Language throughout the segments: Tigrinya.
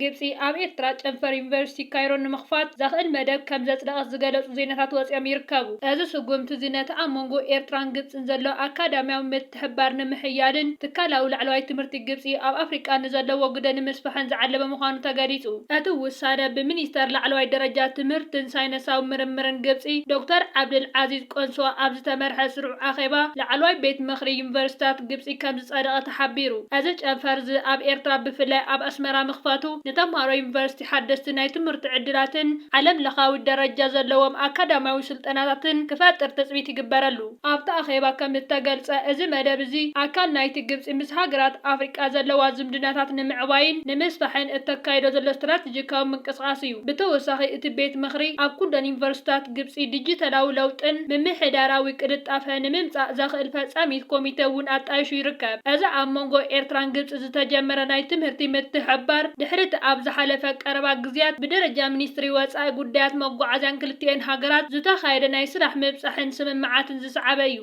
ግብጺ ኣብ ኤርትራ ጨንፈር ዩኒቨርሲቲ ካይሮ ንምኽፋት ዘኽእል መደብ ከም ዘጽደቐት ዝገለጹ ዜናታት ወጺኦም ይርከቡ። እዚ ስጉምቲ'ዚ ነቲ ኣብ መንጎ ኤርትራን ግብጽን ዘሎ ኣካዳምያዊ ምትሕብባር ንምሕያልን ትካላዊ ላዕለዋይ ትምህርቲ ግብጺ ኣብ ኣፍሪቃ ንዘለዎ ግደ ንምስፋሕን ዝዓለመ ምዃኑ ተገሊጹ። እቲ ውሳነ ብሚኒስተር ላዕለዋይ ደረጃ ትምህርትን ሳይነሳዊ ምርምርን ግብጺ ዶክተር ዓብደልዓዚዝ ቆንሶ ኣብ ዝተመርሐ ስሩዕ ኣኼባ ላዕለዋይ ቤት ምኽሪ ዩኒቨርሲታት ግብጺ ከምዝጸደቐ ተሓቢሩ። እዚ ጨንፈር'ዚ ኣብ ኤርትራ ብፍላይ ኣብ ኣስመራ ምኽፋቱ ንተምሃሮ ዩኒቨርሲቲ ሓደስቲ ናይ ትምህርቲ ዕድላትን ዓለም ለኻዊ ደረጃ ዘለዎም ኣካዳምያዊ ስልጠናታትን ክፈጥር ትጽቢት ይግበረሉ። ኣብቲ ኣኼባ ከምዝተገልጸ እዚ መደብ እዚ ኣካል ናይቲ ግብጺ ምስ ሃገራት ኣፍሪቃ ዘለዋ ዝምድናታት ንምዕባይን ንምስፋሕን እተካይዶ ዘሎ ስትራተጂካዊ ስትራተጂካዊ ምንቅስቓስ እዩ። ብተወሳኺ እቲ ቤት ምኽሪ ኣብ ኩለን ዩኒቨርሲቲታት ግብፂ ዲጂታላዊ ለውጥን ምምሕዳራዊ ቅልጣፈ ንምምፃእ ዘኽእል ፈፃሚት ኮሚቴ እውን ኣጣይሹ ይርከብ። እዚ ኣብ መንጎ ኤርትራን ግብፂ ዝተጀመረ ናይ ትምህርቲ ምትሕብባር ድሕሪ እቲ ኣብ ዝሓለፈ ቀረባ ግዝያት ብደረጃ ሚኒስትሪ ወፃኢ ጉዳያት መጓዓዝያን ክልቲኤን ሃገራት ዝተኻየደ ናይ ስራሕ ምብፃሕን ስምምዓትን ዝሰዓበ እዩ።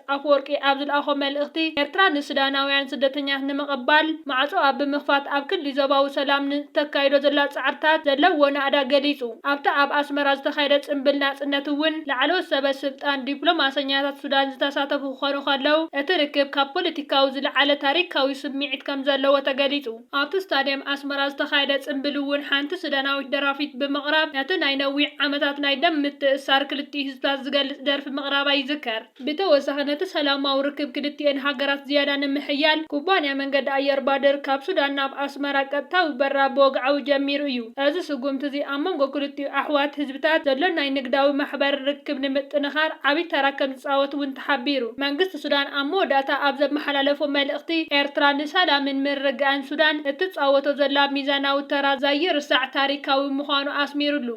ኣፈወርቂ ኣብ ዝልኣኾ መልእኽቲ፣ ኤርትራ ንሱዳናውያን ስደተኛታት ንምቕባል ማዕጾኣ ብምኽፋት ኣብ ክሊ ዞባዊ ሰላም ን እተካይዶ ዘላ ጻዕርታት ዘለዎ ናእዳ ገሊጹ። ኣብቲ ኣብ ኣስመራ ዝተኻየደ ጽምብል ናጽነት እውን ላዕለዎት ሰበ ስልጣን ዲፕሎማሰኛታት ሱዳን ዝተሳተፉ ክኾኑ ከለው እቲ ርክብ ካብ ፖለቲካዊ ዝልዓለ ታሪካዊ ስምዒት ከምዘለዎ ተገሊጹ። ኣብቲ ስታድየም ኣስመራ ዝተኻየደ ጽምብል'ውን ሓንቲ ሱዳናዊት ደራፊት ብምቕራብ ነቲ ናይ ነዊሕ ዓመታት ናይ ደም ምትእስሳር ክልቲኡ ህዝብታት ዝገልጽ ደርፊ ምቕራባ ይዝከር። ብተወሳኺ ነቲ ሰላማዊ ርክብ ክልቲኤን ሃገራት ዝያዳ ንምሕያል ኩባንያ መንገዲ ኣየር ባድር ካብ ሱዳን ናብ ኣስመራ ቀጥታዊ በረራ ብወግዓዊ ጀሚሩ እዩ። እዚ ስጉምቲ'ዚ ኣብ መንጎ ክልቲኡ ኣሕዋት ምትእትታዋት ዘሎ ናይ ንግዳዊ ማሕበር ርክብ ንምጥንኻር ዓብይ ተራ ከምዝፃወት እውን ተሓቢሩ። መንግስቲ ሱዳን ኣብ መወዳእታ ኣብ ዘመሓላለፎ መልእኽቲ፣ ኤርትራ ንሰላምን ምርግጋእን ሱዳን እትፃወቶ ዘላ ሚዛናዊ ተራ ዘይርሳዕ ታሪካዊ ምዃኑ ኣስሚሩሉ።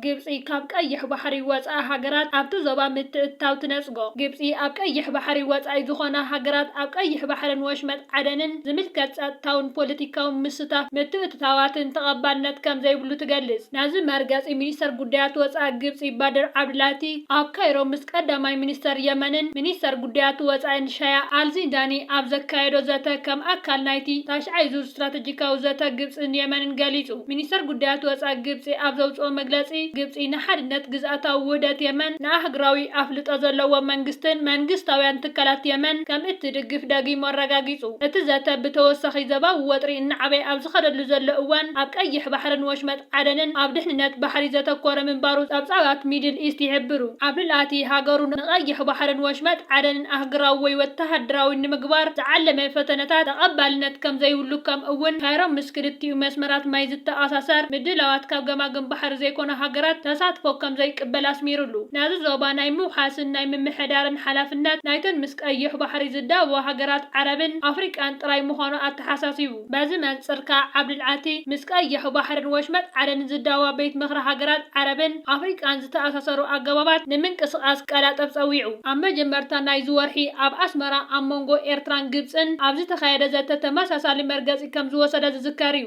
ግብጺ ካብ ቀይሕ ባሕሪ ወጻኢ ሃገራት ኣብቲ ዞባ ምትእትታው ትነጽጎ። ግብጺ ኣብ ቀይሕ ባሕሪ ወጻኢ ዝኾና ሃገራት ኣብ ቀይሕ ባሕርን ወሽመጥ ዓደንን ዝምልከት ጸጥታውን ፖለቲካውን ምስታፍ ምትእትታዋትን ተቐባልነት ከም ዘይብሉ ትገልጽ። ናዚ መርገጺ ሚኒስተር ጉዳያት ወጻኢ ግብጺ ባድር ዓብድላቲ ኣብ ካይሮ ምስ ቀዳማይ ሚኒስተር የመንን ሚኒስተር ጉዳያት ወጻኢን ሻያ ኣልዚንዳኒ ኣብ ዘካየዶ ዘተ ከም ኣካል ናይቲ ታሽዓይ ዙር ስትራተጂካዊ ዘተ ግብጽን የመንን ገሊጹ። ሚኒስተር ጉዳያት ወጻኢ ግብጺ ኣብ ዘውጽኦ መግለጺ፣ ግብጺ ንሓድነት ግዝኣታዊ ውህደት የመን፣ ንኣህግራዊ ኣፍልጦ ዘለዎ መንግስትን መንግስታውያን ትካላት የመን ከም እትድግፍ ደጊሙ ኣረጋጊጹ። እቲ ዘተ ብተወሳኺ ዘባዊ ወጥሪ እናዓበየ ኣብ ዝኸደሉ ዘሎ እዋን ኣብ ቀይሕ ባሕርን ወሽመጥ ዓደንን ኣብ ድሕንነት ባሕሪ ዘተኮረ ምንባሩ ጸብጻባት ሚድል ኢስት ይሕብሩ። ዓብዱልኣቲ ሃገሩ ንቀይሕ ባሕርን ወሽመጥ ዓደንን ኣህግራዊ ወይ ወተሃደራዊ ንምግባር ዝዓለመ ፈተነታት ተቐባልነት ከም ዘይብሉ ከም እውን ካይሮ ምስ ክልቲኡ መስመራት ማይ ዝተኣሳሰር ምድላዋት ካብ ገማግም ባሕሪ ዘይኮና ሃገራት ተሳትፎ ከም ዘይቅበል ኣስሚርሉ። ናዚ ዞባ ናይ ምውሓስን ናይ ምምሕዳርን ሓላፍነት ናይተን ምስ ቀይሕ ባሕሪ ዝዳበዋ ሃገራት ዓረብን ኣፍሪቃን ጥራይ ምዃኑ ኣተሓሳሲቡ። በዚ መንጽር ከኣ ዓብድልዓቲ ምስ ቀይሕ ባሕርን ወሽመጥ ዓደንን ዝዳወባ ቤት ምኽሪ ሃገራት ዓረብን ኣፍሪቃን ዝተኣሳሰሩ ኣገባባት ንምንቅስቓስ ቀላጠፍ ጸዊዑ። ኣብ መጀመርታ ናይዚ ወርሒ ኣብ ኣስመራ ኣብ መንጎ ኤርትራን ግብጽን ኣብ ዝተኻየደ ዘተ ተመሳሳሊ መርገጺ ከም ዝወሰደ ዝዝከር'ዩ።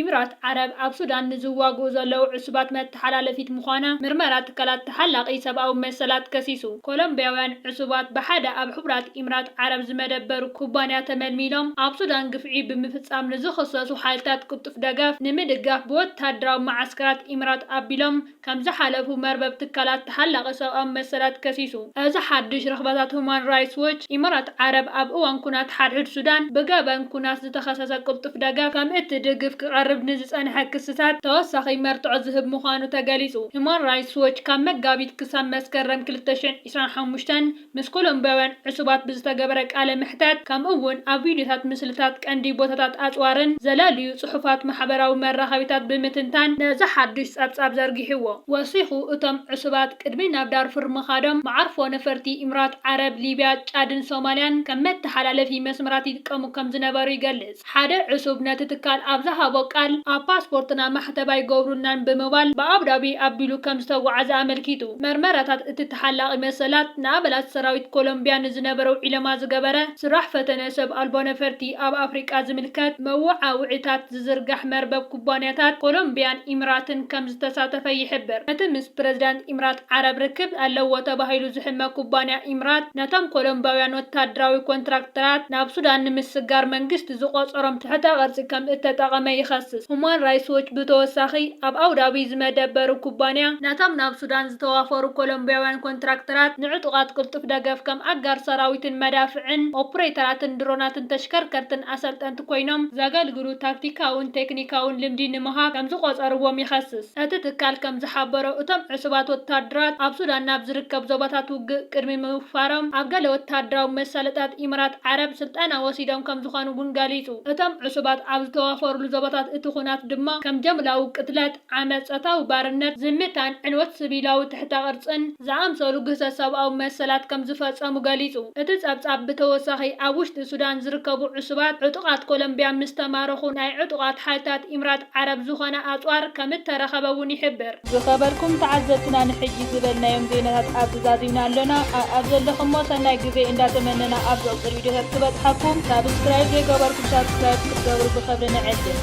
ኢምራት ዓረብ ኣብ ሱዳን ንዝዋግኡ ዘለዉ ዕሱባት ተሓላለፊት ምዃና ምርመራ ትካላት ተሓላቒ ሰብኣዊ መሰላት ከሲሱ። ኮሎምብያውያን ዕሱባት ብሓደ ኣብ ሕቡራት ኢምራት ዓረብ ዝመደበሩ ኩባንያ ተመልሚሎም ኣብ ሱዳን ግፍዒ ብምፍጻም ንዝኽሰሱ ሓይልታት ቅልጡፍ ደገፍ ንምድጋፍ ብወተሃደራዊ መዓስከራት ኢምራት ኣቢሎም ከምዝሓለፉ መርበብ ትካላት ተሓላቒ ሰብኣዊ መሰላት ከሲሱ። እዚ ሓድሽ ርኽበታት ሁማን ራይትስ ዎች፣ ኢምራት ዓረብ ኣብ እዋን ኩናት ሓድሕድ ሱዳን ብገበን ኩናት ዝተኸሰሰ ቅልጡፍ ደገፍ ከም እትድግፍ ክቐርብ ንዝጸንሐ ክስታት ተወሳኺ መርትዖ ዝህብ ምዃኑ ተገሊጹ። ሁማን ራይትስ ዎች ካብ መጋቢት ክሳብ መስከረም ክልተ ሽሕን ዕስራን ሓሙሽተን ምስ ኮሎምብያውያን ዕሱባት ብዝተገበረ ቃለ መሕተት ከምኡ'ውን ኣብ ቪድዮታት ምስልታት ቀንዲ ቦታታት ኣጽዋርን ዘለልዩ ጽሑፋት ማሕበራዊ መራኸቢታት ብምትንታን ነዚ ሓድሽ ጸብጻብ ዘርጊሑዎ። ወሲኹ እቶም ዕሱባት ቅድሚ ናብ ዳርፉር ምኻዶም መዓርፎ ነፈርቲ ኢምራት ዓረብ፣ ሊብያ፣ ጫድን ሶማልያን ከም መተሓላለፊ መስመራት ይጥቀሙ ከም ዝነበሩ ይገልጽ። ሓደ ዕሱብ ነቲ ትካል ኣብ ዝሃቦ ቃል፣ ኣብ ፓስፖርትና ማሕተብ ኣይገብሩልናን ብምባል ብኣቡዳቢ ኣቢሉ ከም ዝተጓዓዘ ኣመልኪቱ። መርመራታት እቲ ተሓላቒ መሰላት፣ ንኣባላት ሰራዊት ኮሎምብያ ንዝነበረው ዒለማ ዝገበረ ስራሕ ፈተነ ሰብ ኣልቦ ነፈርቲ ኣብ ኣፍሪቃ ዝምልከት መወዓውዒታት ዝዝርጋሕ መርበብ ኩባንያታት ኮሎምብያን ኢምራትን ከም ከምዝተሳተፈ ይሕብር። እቲ ምስ ፕረዚዳንት ኢምራት ዓረብ ርክብ ኣለዎ ተባሂሉ ዝሕመ ኩባንያ ኢምራት፣ ነቶም ኮሎምባውያን ወተሃደራዊ ኮንትራክተራት ናብ ሱዳን ንምስጋር መንግስቲ ዝቖጸሮም ትሕተ ቅርጺ ከምእተጠቐመ ይኸስስ። ሁማን ራይትስ ዎች ብተወሳኺ፣ ኣብ ኣቡዳቢ ዝመደበሩ ኩባንያ፣ ነቶም ናብ ሱዳን ዝተዋፈሩ ኮሎምቢያውያን ኮንትራክተራት ንዕጡቓት ቅልጡፍ ደገፍ ከም ኣጋር ሰራዊትን መዳፍዕን፣ ኦፕሬተራትን ድሮናትን ተሽከርከርትን ኣሰልጠንቲ፣ ኮይኖም ዘገልግሉ ታክቲካውን ቴክኒካውን ልምዲ ንምሃብ ከምዝቖጸርዎም ይኸስስ። እቲ ትካል ከምዝሓበሮ፣ እቶም ዕሱባት ወተሃደራት ኣብ ሱዳን ናብ ዝርከብ ዞባታት ውግእ ቅድሚ ምውፋሮም ኣብ ገለ ወተሃደራዊ መሳለጥያታት ኢምራት ዓረብ ስልጠና ወሲዶም ከምዝኾኑ ውን ገሊጹ። እቶም ዕሱባት ኣብ ዝተዋፈሩሉ ዞባታት እቲ ኹናት ድማ ከም ጀምላዊ ቅትለት፣ ዓመጽ፣ ጾታዊ ባርነት፣ ዝምታን ዕንወት ስቪላዊ ትሕተ ቅርጽን ዝኣምሰሉ ግህሰት ሰብኣዊ መሰላት ከም ዝፈጸሙ ገሊጹ። እቲ ጸብጻብ ብተወሳኺ ኣብ ውሽጢ ሱዳን ዝርከቡ ዕሱባት ዕጡቓት ኮሎምብያ ምስ ተማረኹ ናይ ዕጡቓት ሓይልታት ኢምራት ዓረብ ዝኾነ ኣጽዋር ከም እተረኸበ እውን ይሕብር። ዝኸበርኩም ተዓዘብትና ንሕጂ ዝበልናዮም ዜናታት ኣብዚ ዛዚምና ኣሎና። ኣኣብ ዘለኹሞ ሰናይ ግዜ እንዳ ተመነና ኣብ ዝቕጽል ቪድዮታት ክበጽሓኩም ሳብስክራይብ ዘይገበርኩም ሳብስክራይብ ክትገብሩ ብኽብሪ ንዕድም።